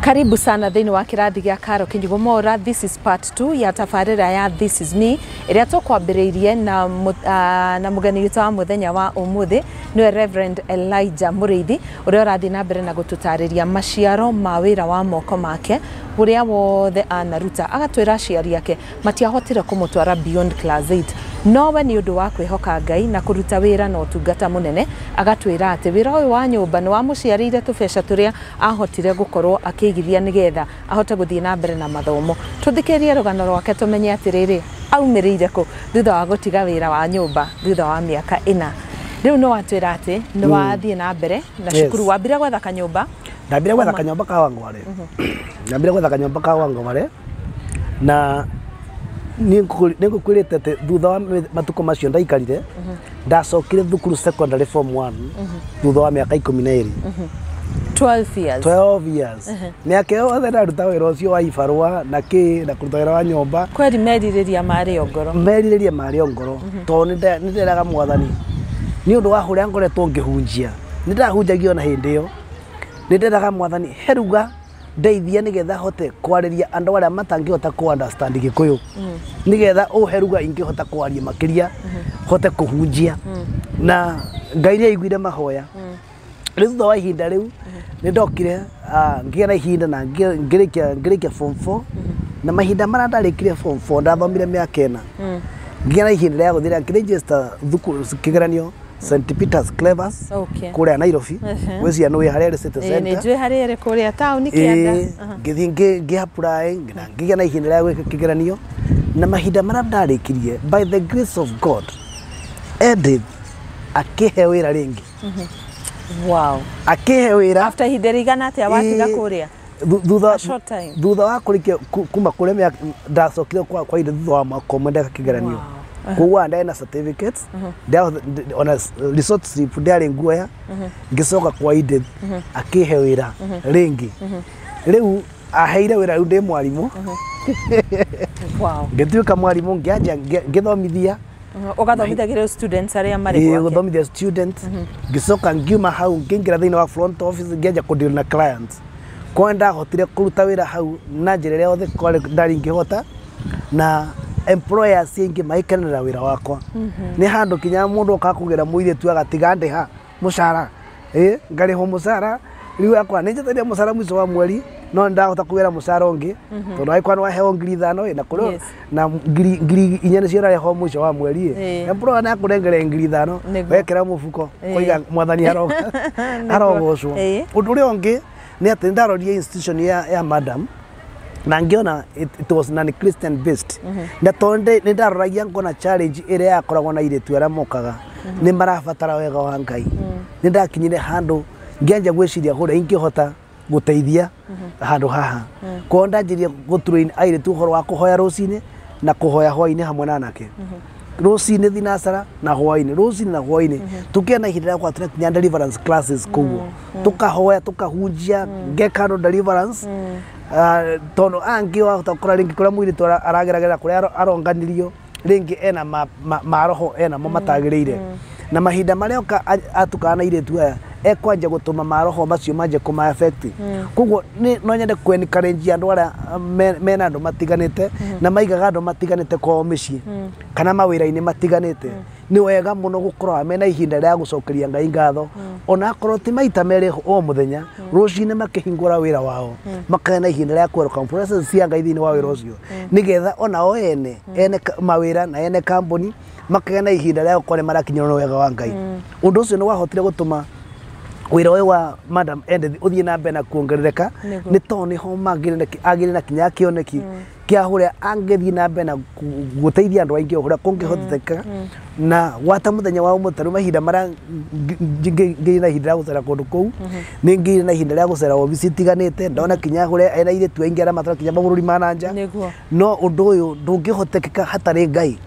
karibu sana thĩinĩ wa kĩrathi gĩa karo kĩnyigo mora this is part 2 ya tabarĩra ya this is me ĩrĩa tũkwambĩrĩirie na, mũ- ah, na mũgeni witũ wa mũthenya wa ũmũthĩ nĩwe reverend elijah mũrĩithi ũrĩa ũrathiĩ na mbere na gũtũtarĩria maciaro ma wĩra wa moko make ũrĩa wothe anaruta agatwĩra aciari ake matiahotire kũmũtwara beyond class 8 no we nĩ ũndũ wa kwĩhoka Ngai na kũruta wĩra na ũtungata mũnene agatwĩra atĩ wĩra ũyũ wa nyũmba nĩ wamũciarĩire tũbeca tũrĩa ahotire gũkorwo akĩigithia nĩgetha ahote gũthiĩ na mbere na mathomo tũthikĩrĩrie rũgano rwake tũmenye atĩrĩrĩ aumĩrĩire kũ thutha wa gũtiga wĩra wa nyũmba thutha wa mĩaka ĩna Rĩu nĩ watwĩra atĩ nĩ wathiĩ na mbere na Yes. cukuru wambire gwetha kanyũmba ndambire gwetha kanyomba ka wangware ndambire gwetha kanyomba ka wangware na nĩ ngũkwĩrĩte atĩ thutha wa mĩ- matukũ macio ndaikarire ndacokire thukuru secondary form 1 thutha wa mĩaka ikũmi na ĩrĩ 12 years 12 years months Ehe. mĩaka ĩyo yothe ndaruta wĩra ũcio wa ibarũa na kĩ na kũruta wĩra wa nyũmba kweri merirĩria marĩ o ngoro merirĩria marĩ o ngoro tondũ nĩ nda- nĩ nderaga mwathani nĩ ũndũ wa ũrĩa ngoretwo ngĩhunjia nĩ ndahunjagia ona hĩndĩ ĩyo nĩ nderaga mwathani heruga ndeithia nĩgetha hote kwarĩria andũ arĩa matangĩhota kũ understand gĩkũyũ nĩgetha ũhe ruga ingĩhota kwaria makĩria hote kũhunjia na ngai nĩ aiguire mahoya rä thutha wa ihinda rä u nä ndokire ah, ngä na ihinda na ngä rä form four na mahinda marä a ndarä kire form four ndathomire mä aka ä na ngä na ihinda rä a gå thä ra ngä register thukuru kä geranio St Peters Clevers Okay. kå rä a Nairobi Ehe. gwä cia nä wä harä a rä city Ĩĩ, nĩ center njũĩ harĩa ĩrĩ kũrĩa taũni kĩanda Aha. ngĩthiĩ ngĩ apply na ngĩgĩa na ihinda rĩa gwĩka kĩgeranio na mahinda marĩa ndarĩkirie by the grace of God Edith akĩhe wĩra rĩngĩ wow akĩhe wĩra after ihinda rĩigana atĩa watiga Ĩ, kũrĩa thu- thutha A short time. thutha wa kũrĩkia ku- kuma kũrĩa mĩaka ndacokire kwa kwa ihinda thutha wa mwaka ũmwe ndeka kĩgeranio koguo aya ndĩ na certificate ndĩa- ndĩ- ona s- resort slip ndĩarĩ nguoya ngĩcoka kwa ihinda akĩhe wĩra rĩngĩ rĩu aheire wĩra rĩu ndĩ mwarimũ wow ngĩtuĩka mwarimũ ngĩanjia ngĩ- ngĩthomithia ũgathomithagĩrĩa students arĩa marĩ gwake gũthomithia students mhm. ngĩcoka ngiuma hau ngĩingĩra thĩinĩ wa front office ngĩanjia kũdeal na clients kwa ndahotire kũruta wĩra hau na njĩra ĩrĩa yothe kwarĩ ndarĩ ingĩhota na employers aingĩ magĩkenera wĩra wakwa mhm. nĩ handũ kinya mũndũ oka kũgĩra mũirĩtu agatiga ndĩha mũcara ĩ ngarĩhwo mũcara rĩu akwa nĩ njataria mũcara mũico wa mweri no ndahota kuwera mũcara ũngĩ tondũ agĩkorwo nĩ waheo ngiri ithano ĩ na kũrĩ Yes. na ngiri ngiri inya nĩcio ũrarĩhwo mũico wa mweri ĩ Ĩ. na bro na kũrengere ngiri ithano Nĩguo. wekĩra mũbuko Ĩ. koiga mwathani aro- arogocwo Ĩ. ũndũ ũrĩa ũngĩ nĩ atĩ nĩ ndarorire institution ya, ya madam na ngiona it, it was non christian based na tondu nä ndaroragia ngona challenge ä rä a yakoragwo na irä tu arä a mokaga nä marabatara wega wa ngai nä ndakinyire handå ngĩanjia gwä ciria hå rä a ingä hota gå teithia handå haha kwao ndanjä gå turä airä tu å horo wa kå hoya rå cinä na kå hoya hwainä hamwe na anake rũcinĩ thinacara na hwainĩ rũcinĩ na hwainĩ tũkĩona ihinda rĩa gũkorwo tũrakinya deliverance classes kũguo tukahoya tukahunjia ngekano deliverance Ah, tondu angi wahota kura ringi kuria mwiri tu arageragera kuria aro- aronganirio ringi ena ma- ma- maroho ena mo matagirire na mahinda maria oka a- atukana na iritu aya ekwanja gutuma maroho macio manje kuma affect koguo ni- no nyende ku encourage andu aria ah, me- mena andu matiganite na maigaga andu matiganite kwao micii kana mawira-ini matiganite nĩ wega mũno gũkorwo mena ihinda rĩa gũcokeria ngai ngatho mm. ona akorwo ti maita merĩ o mũthenya mm. rũcinĩ makĩhingũra wĩra wao mm. makagĩa na ihinda rĩa kwerũka process cia ngai thĩinĩ wa wĩra ũcio nĩgetha ona o ene ene mawĩra na ene kambuni makagĩa na ihinda rĩa gũkorwo nĩ marakinyĩrwo na wega wa ngai ũndũ ũcio nĩ wahotire gũtũma wira uyu wa madam Edith uthie na mbere na kuongerereka ni to niho magire na kinya kioneki mm. kia huria angithii na mbere na guteithia andu aingi huria kungihoteteka na wata muthenya wa umuthi tariu mahinda maria ngiri na ihinda ria gucera kundu kuu ni ngiri na ihinda ria gucera obici itiganite ndona kinya huria ena airitu aingi aria maturaga kinya maburi ma na nja no undu uyu ndungihoteteka hatari ngai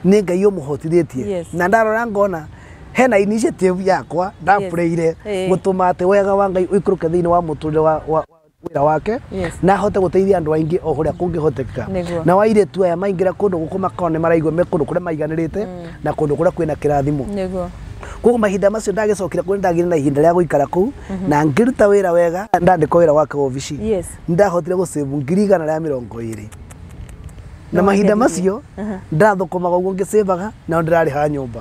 ni ngai umuhotithitie na ndarora ngona hena initiative yakwa ndapureire gutuma ati wega wa ngai uikuruke thiini wa muturire wa wĩra wake Yes. na ahote gũteithia andũ aingĩ o kũrĩa kũngĩhotekeka Nĩguo. na wairĩtu aya maingĩra kũndũ gũkũ makao nĩ maraigua me kũndũ kũrĩa maiganĩrĩte na kũndũ kũrĩa kwĩna kĩrathimo nĩguo koguo mahinda macio ndagĩcokire kũrĩ ndagĩire na ihinda rĩa gũikara kũu na ngĩruta wĩra wega ndandĩkwo wĩra gwake wabici Yes. ndahotire gũcĩbu ngiri igana rĩa mĩrongo ĩrĩ na mahinda macio ndathũkũmaga ũguo ngĩcĩbaga nao ndĩrarĩha nyũmba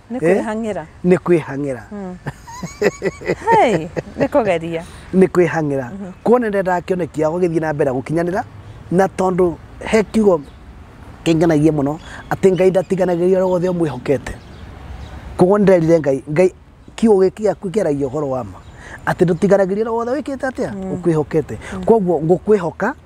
nĩ Eh? kwĩhang'ĩra nĩ kwĩhang'ĩra Hey, nĩ kũgeria nĩ kwĩhang'ĩra kuona nĩ ndendaga kĩoneki yao gĩthiĩ na mbere gũkinyanĩra na tondũ he kiugo kĩngenagia mũno atĩ ngai ndatiganagĩria ũrĩa wothe ũmwĩhokete koguo nĩ nderire ngai ngai kiugo gĩkĩ gĩaku kĩaragia ũhoro wa ma atĩ ndũtiganagĩria ũrĩa wothe wĩkĩte atĩa ũkwĩhokete koguo ngũkwĩhoka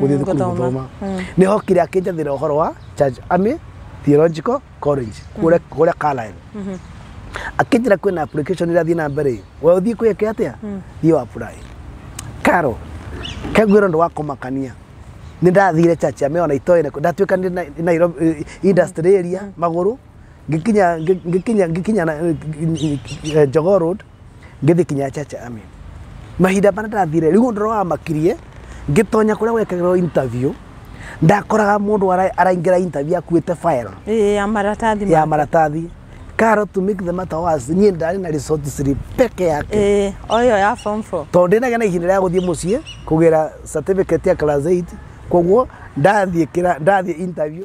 gũthiĩ Mm, thukuru gũthoma. gũthoma Mm. nĩ hokire akĩnjathĩra ũhoro wa Church Army Theological College kũrĩa kũrĩa Carlisle Mhm. akĩnjĩra kwĩna application ĩrathiĩ na mbere we ũthiĩ kwĩke atĩa thiĩ wa apply karo kagwĩra ũndũ wa kũmakania nĩ ndathire Church Army ona itoĩ nako ndatuĩka nĩ na- Nairobi eh, industry area magũrũ ngikinya ngi- ngikinya ngikinya na eh, eh, Jogoo road ngĩthi kinya chacha ami mahinda marĩa ndathire rĩu ũndũ ũrĩa wamakirie ngĩtonya kũrĩa gwekagĩrwo interview ndakoraga mũndũ ara- araingĩra interview akuĩte file Ĩĩ, ya maratathi ya ma- maratathi karo to make the matter worse niĩ ndarĩ na resort slip peke yake Ĩĩ, o ĩyo ya form four tondũ ndĩnagĩa na ihinda rĩa gũthiĩ mũciĩ kũgĩra certificate ya class 8 koguo ndathiĩ kĩra- ndathiĩ interview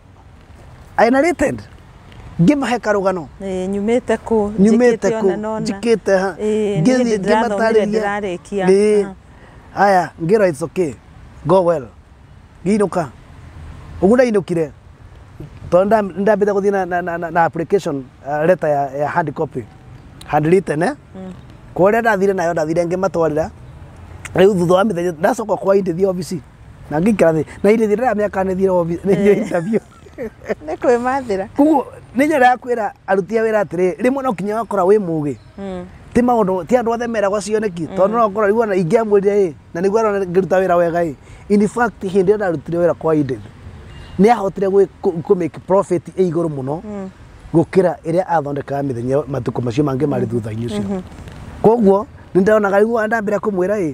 I narrated ngĩmahe karũgano Ĩĩ, nyumĩte kũ nyumĩte njĩkĩte kũ ona nona. njĩkĩte ha Ĩĩ, niĩ ndĩ ndĩrathomire ndĩrarĩkia. Ĩĩ. Ah. haya ngĩra it's okay go well ngĩinũka ũguo ndainũkire tondũ nda- nĩndambĩte gũthiĩ na- na- na- na- na application uh, letter ya, ya hard copy handwritten eh? kũrĩa ndathire nayo ndathire ngĩmatwarĩra rĩu thutha wa mĩthenya ndacoka kwa indĩthiĩ obici na ngĩikara thĩ na irĩ thira mĩaka nĩthire obi- nĩthire interview nä kwä mathä koguo nĩ njĩra ya kwĩra aruti a wĩra atĩrĩ rĩmwe no kinya wakora wĩ mũgĩ ti maũndũ ti andũ othe meragwo cioneki tondũ no ũkorwo rĩu ona ingĩamwĩrire ĩ na nĩguo arona ngĩruta wĩra wega ĩ in fact hĩndĩ ĩyo ndarutire wĩra kwa Eden nĩ ahotire gwĩ- kũ- kũ make profit ĩ igũrũ mũno gũkĩra ĩrĩa athondekaga mĩthenya matukũ macio mangĩ marĩ thutha-inĩ ũcio koguo nĩ ndĩronaga rĩu ndambĩra kũmwĩra ĩ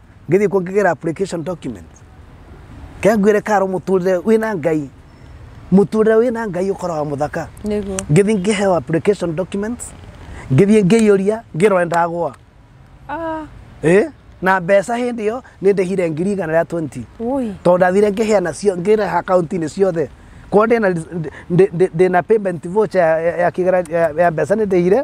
ngĩthiĩ kuo ngĩgĩra application document kengwĩre karo mũtũrĩre wĩna ngai mũtũrĩre wĩna ngai ũkoraga mũthaka nĩguo ngĩthiĩ ngĩheo application documents ngĩthiĩ ngĩiyũria ngĩrore ndagwa Ah, ĩ na mbeca hĩndĩ ĩyo nĩ ndĩhire ngiri igana rĩa 20 ui tondũ ndathire ngĩheana cio ngĩreha akaunti-inĩ ciothe korwo ndĩna- ndĩ- ndĩ- ndĩna payment voucher ya- ya- ya kĩgera- ya- ya mbeca nĩ ndĩhire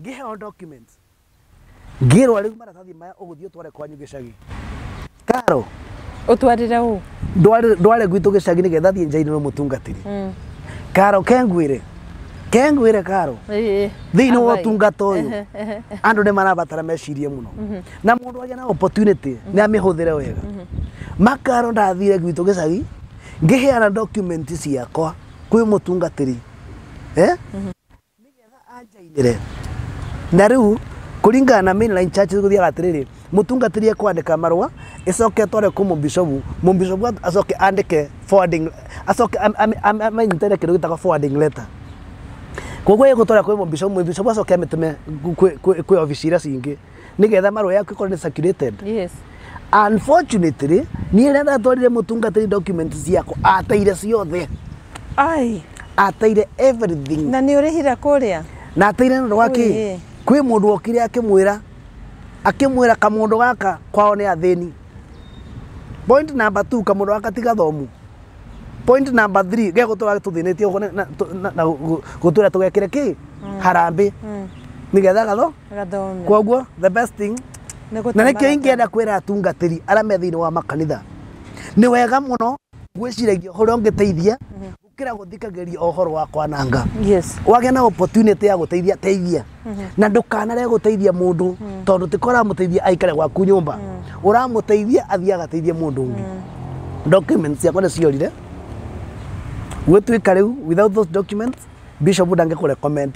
ngĩheo documents ngĩrwa rĩu maratathi maya ũgũthiĩ ũtware kwanyu gĩcagi karo ũtwarĩre ũ ndware gwitũ gĩcagi nĩ getha thiĩ njainĩ no mũtungatĩri mm. karo kengwĩre kengwĩre karo thĩinĩ wa ũtungata ũyũ andũ nĩ marabatara mecirie mũno mhm. na mũndũ agĩa na opportunity mhm. nĩ amĩhũthĩre wega mhm. makaro ndathire gwitũ gĩcagi ngĩheana document ciakwa kwĩ mũtungatĩri eh? nĩgetha anjainĩre na rĩu kũringana na mainline church gũthiaga atĩrĩrĩ mũtungatĩri ekwandĩka marũa ĩcoke tware kũ mũbishobu mũbishobu acoke andĩke forwarding acoke am- am- am- amenyitĩre kĩndũ gĩtagwo forwarding letter koguo ĩgũtwara kwĩ mũbishobu mũbishobu acoke amĩtũme kwĩ- kwĩ kwĩ obici iria cingĩ nĩgetha marũa yaku ĩkorwo nĩ circulated yes unfortunately niĩ rĩrĩa ndatwarire mũtungatĩri documents ciakwa ateire ciothe ai ateire everything na nĩ ũrĩhire kũrĩa na ateire nĩ ũndũ wa Ui. kĩ kwĩ mũndũ wokire akĩmwĩra akĩmwĩra kamũndũ gaka kwao nĩ athĩni point number two kamũndũ gaka ti gathomu point number three ge gũtũra tũthĩnĩtie ũguo na- na- tũ- na- na gũ- gũtũra tũgekĩre kĩ harambĩ nĩgetha gatho Gathome. kwoguo the best thing Nĩ na gũtũmara nĩkĩo ingĩenda kwĩra atungatĩri arĩa me thĩinĩ wa makanitha nĩ wega mũno gwĩciragia ũrĩa ũngĩteithia gũkĩra gũthikagĩria ũhoro wa kwananga Yes. wagĩa na opportunity ya gũteithia teithia na ndũkanare gũteithia mũndũ tondũ tiko ũramũteithia aikare gwaku nyũmba ũramũteithia athiĩ agateithie mũndũ ũngĩ documents ciakwa nĩ ciorire gwĩtuĩka rĩu without those documents bishop ndangĩkũ recommend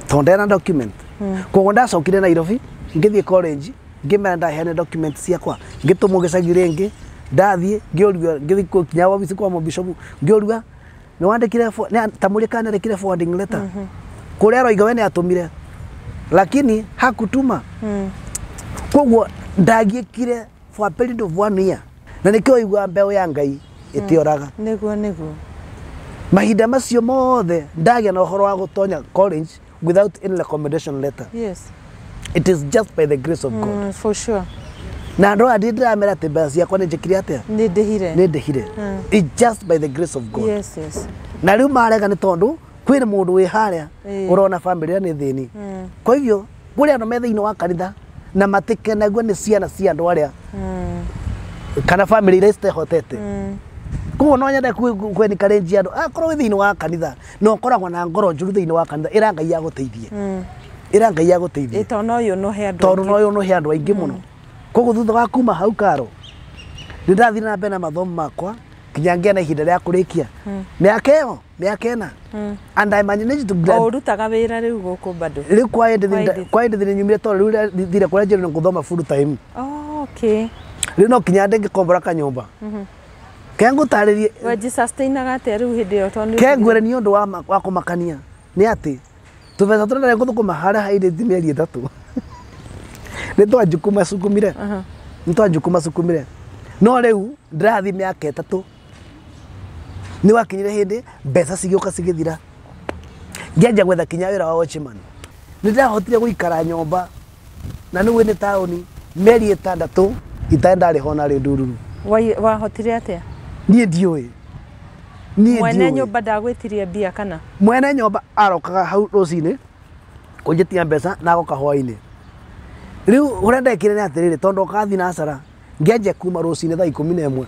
tondũ ndena document koguo ndacokire nairobi ngĩthiĩ college ngĩmera ndaheane document ciakwa ngĩtũmwo gĩcagi rĩngĩ ndathiĩ ngĩũrua ngĩthiĩ kũ- kinya wabici kwa mũbishopu ngĩũrua nĩ wandĩkire fo- nĩ- ta mũrĩ kana nĩkire forwarding letter kũrĩa aroiga we nĩ atũmire lakini hakutuma koguo ndagiĩkire for a period of one year na nĩkĩo waigua mbeũ ya ngai ĩtĩoraga nĩguo nĩguo mahinda macio mothe ndagĩa na ũhoro wa gũtonya college without any recommendation letter yes it is just by the grace of god mm, for sure na andũ aya ndĩ ndĩramera atĩ mbeca ciakwa nĩ njĩkire atĩa nĩ ndĩhire nĩ ndĩhire Mm. it just by the grace of god yes yes na rĩu marega nĩ tondũ kwĩna mũndũ wĩ harĩa Ĩĩ. ũrona bamĩrĩ ĩrĩa nĩ thĩni kwa hivyo kũrĩ andũ me thĩinĩ wa kanitha na matikenagua nĩ ciana cia andũ arĩa kana bamĩrĩ iria citehotete koguo no nyende kwenikarenjia andũ akorwo wĩ thĩinĩ wa kanitha na ũkoragwo na ngoro njũru thĩinĩ wa kanitha ĩra ngai agũteithie ĩra ngai agũteithie tondũ no yũ no he andũ tondũ no yũ no he andũ aingĩ mũno koguo thutha wa kuma hau karo nĩ ndathire na mbere na mathomo makwa nginya ngĩa na ihinda rĩa kũrĩkia mĩaka ĩyo mĩaka ĩna mm. and I managed to grad ũrutaga wĩra rĩu gũkũ bado rĩu kwa hĩndĩ kwa hĩndĩ thĩinĩ nyumire tondũ rĩu thire kũrĩa njĩrĩ na gũthoma full time oh, okay rĩu no kinya ndĩ ngĩkombora kanyũmba mm -hmm. kengũtarĩrie wejisastainaga atĩa rĩu hĩndĩ ĩyo tondũ kengwĩre nĩ ũndũ wa wa kũmakania nĩ atĩ tũbeca tũrĩa ndarĩ gũthũkũma harĩa hairĩ mĩeri ĩtatũ nĩ twanjukuma cukumire nĩ twanjukuma cukumire no rĩu ndĩrathiĩ mĩaka ĩtatũ nä wakinyire hä ndä mbeca cigä å ka cigä thira ngĩanjia gwetha kinya wä ra wa watchman nä ndahotire gå ikara nyomba na nä nä taåni meri ä tandatå itarä ndarä hona rä ndururu Wai- wahotire atä a niä ndiå ä mwene nyå mba ndagwätirie mbia kana mwene nyomba arokaga hau rũcinĩ kũnjĩtia mbeca na agoka hwainĩ rĩu ũrĩa ndekire nĩ atĩrĩrĩ tondũ okathi na acara ngenje kuma rũcinĩ thaa ikũmi na ĩmwe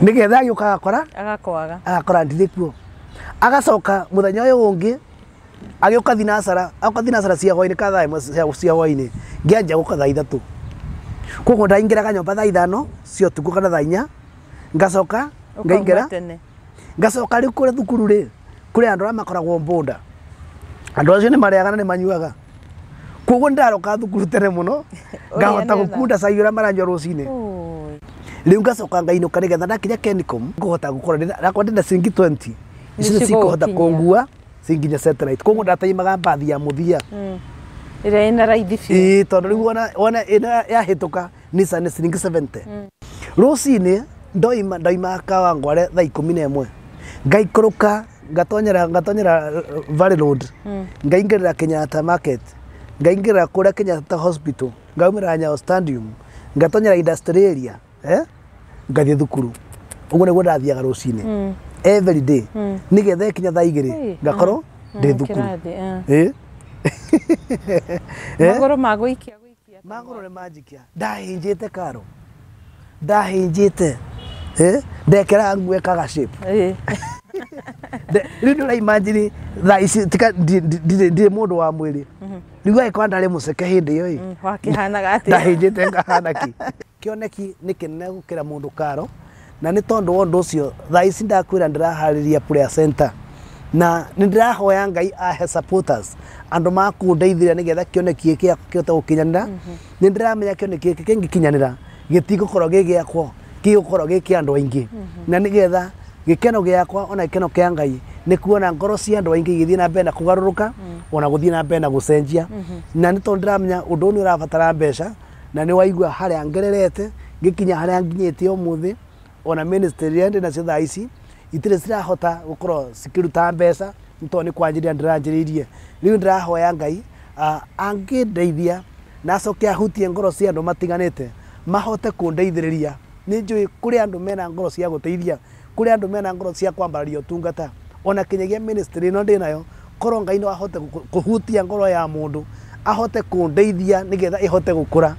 nĩgetha agĩũka agakora agakwaga agakora ndirĩ kuo agacoka mũthenya ũyũ ũngĩ agĩũka thinasara aũka thinasara cia hwainĩ ka thaa ĩmwe cia- cia hwainĩ ngĩanjia gũka thaa ithatũ koguo ndaingĩraga nyũmba thaa ithano cia ũtukũ kana thaa inya ngacoka ngaingĩra Ũkauma tene. ngacoka rĩu kũrĩa thukuru rĩ kũrĩ andũ arĩa makoragwo mbũnda andũ acio nĩ marĩaga na nĩ manyuaga koguo ndaroka thukuru tene mũno ngahota Ũrĩanĩra. gũkunda cai ũrĩa maranyua rũcinĩ Ũũĩ. rĩu ngacoka ngainũka nĩgetha ndakinya kenicom ngũhota gũkorwo ndĩna- nakwa ndĩna cingi 20 icio Nĩcigũgũkinyia. cikũhota kũngua cinginya satellite koguo ndataimaga mbathi ya mũthia Mm. ĩrĩa ĩna raithi biũ ĩĩ tondũ rĩu wona wona ĩno yahĩtũka Nissan ciringi 70 rũcinĩ ndoima ndoima kawangware thaa ikũmi na ĩmwe ngaikũrũka ngatonyera ngatonyera eh, Valley Road ngaingĩrĩra Kenyatta Market ngaingĩrĩra kũrĩa Kenyatta Hospital ngaumĩra Nyayo Stadium ngatonyera Industrial Area eh? ngathiĩ thukuru ũguo nĩguo ndathiaga rũcinĩ every day nĩgetha ĩkinya thaa igĩrĩ Ĩĩ, ngakorwo ndĩ Mm, thukuru kĩrathi, eh. Ĩĩ. Eh? magũrũ magũikia gũikia Magũrũ nĩ manjikia. Ndahĩnjĩte karo. Ndahĩnjĩte. Eh? Ndekera nguo ĩkaga shape. Eh. Nde- Rĩu nĩ ũraimagine thaa ici tika ndi- ndi- ndirĩ ndirĩ mũndũ wa mwĩrĩ. Rĩu agĩkorwo ndarĩ mũceke hĩndĩ ĩyo ĩ. Mm, wakĩhanaga atĩa? Ndahĩnjĩte ngahana ki. Kĩoneki nĩ kĩnene gũkĩra mũndũ karo, na nĩ tondũ wa ũndũ ũcio thaa ici ndakwĩra ndĩraharĩria prayer center, na nĩ ndĩrahoya Ngai ahe supporters, andũ makũndeithĩrĩria nĩgetha kĩoneki gĩkĩ gĩakwa kĩhote gũkinyanĩra, nĩ ndĩramenya kĩoneki gĩkĩ kĩngĩkinyanĩra gĩtigũkorwo gĩ gĩakwa, gĩgũkorwo gĩ kĩa andũ aingĩ, na nĩgetha gĩkeno gĩakwa ona gĩkeno kĩa Ngai nĩ kuona ngoro cia andũ aingĩ igĩthiĩ na mbere na kũgarũrũka, ona gũthiĩ na mbere na gũcenjia, na nĩ tondũ nĩ ndĩramenya ũndũ ũyũ nĩ ũrabatara mbeca, Na nĩ waigua harĩa ngererete, ngĩkinya harĩa nginyĩtie ũmũthĩ, ona ministry iria ndĩ nacio thaa ici, itirĩ cirahota gũkorwo cikĩruta mbeca, nĩ tondũ nĩ kwanjĩrĩria ndĩranjĩrĩirie. Rĩu ndĩrahoya Ngai angĩndeithia na acoke ahutie ngoro cia andũ matiganĩte, mahote kũndeithĩrĩria. Nĩ njũĩ kũrĩ andũ mena ngoro cia gũteithia. Kũrĩ andũ mena ngoro cia kwambararia ũtungata, ona kinyagia ministry ĩno ndĩnayo, korwo Ngai no ahote kũhutia ngoro ya mũndũ, ahote kũndeithia nĩgetha ĩhote gũkũra,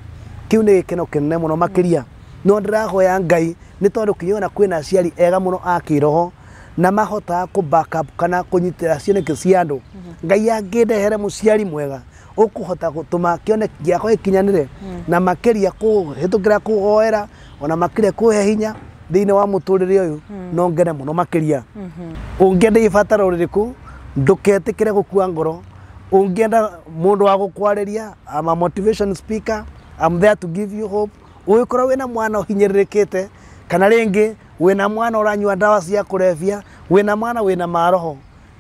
kĩu nĩ gĩkeno kĩnene mũno makĩria. No ndĩrahoya Ngai, nĩ tondũ kinya ona kwĩna aciari ega mũno a kĩroho, na mahotaga kũ back up kana kũnyitĩrĩra cioneki cia andũ. Ngai angĩndehere mũciari mwega, ũkũhota gũtũma kĩoneki gĩakwa gĩkinyanĩre, na makĩria kũhĩtũkĩra kũhoera. ona makire kuhe hinya thiini wa muturire uyu no ngene muno makiria ungienda ibatara uririku nduketikire gukua ngoro ungienda mundu wa gukwariria I'm a motivation speaker I'm there to give you hope ungikorwo wina mwana uhinyiririkite kana ringi wina mwana uranyua ndawa cia kurebia wina mwana wina maroho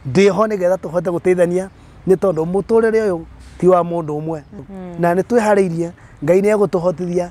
ndiho nigetha tuhote guteithania ni tondu muturire uyu ti wa mundu umwe na ni twihariirie ngai ni egutuhotithia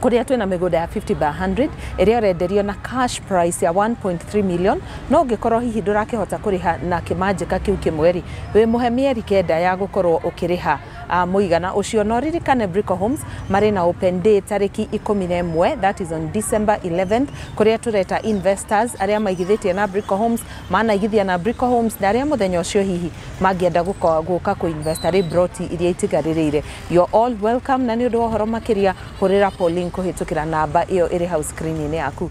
kũrĩa twĩna mĩgũnda ya 50 by 100 ĩrĩa ũrenderio na cash price ya 1.3 million no ũngĩkorwo hihi ndũrakĩhota kũrĩha na kĩmanjĩka kĩu kĩmwe rĩ wĩmũhe mĩeri kenda ya gũkorwo ũkĩrĩha uh, mũigana ũcio no ririkane Brico Homes marĩ na open day tarĩki ikũmi na ĩmwe that is on December 11th kũrĩa tũreta investors arĩa maigithĩtie na Brico Homes manaigithia na Brico Homes na arĩa mũthenya ũcio hihi mangĩenda gũka kũinvesta rĩ broti iria itigarĩrĩire You're all welcome, na nĩ ũndũ wa ũhoro makĩria, hũrĩra Pauline kũhĩtũkĩra namba ĩyo ĩrĩ hau screen-inĩ yaku.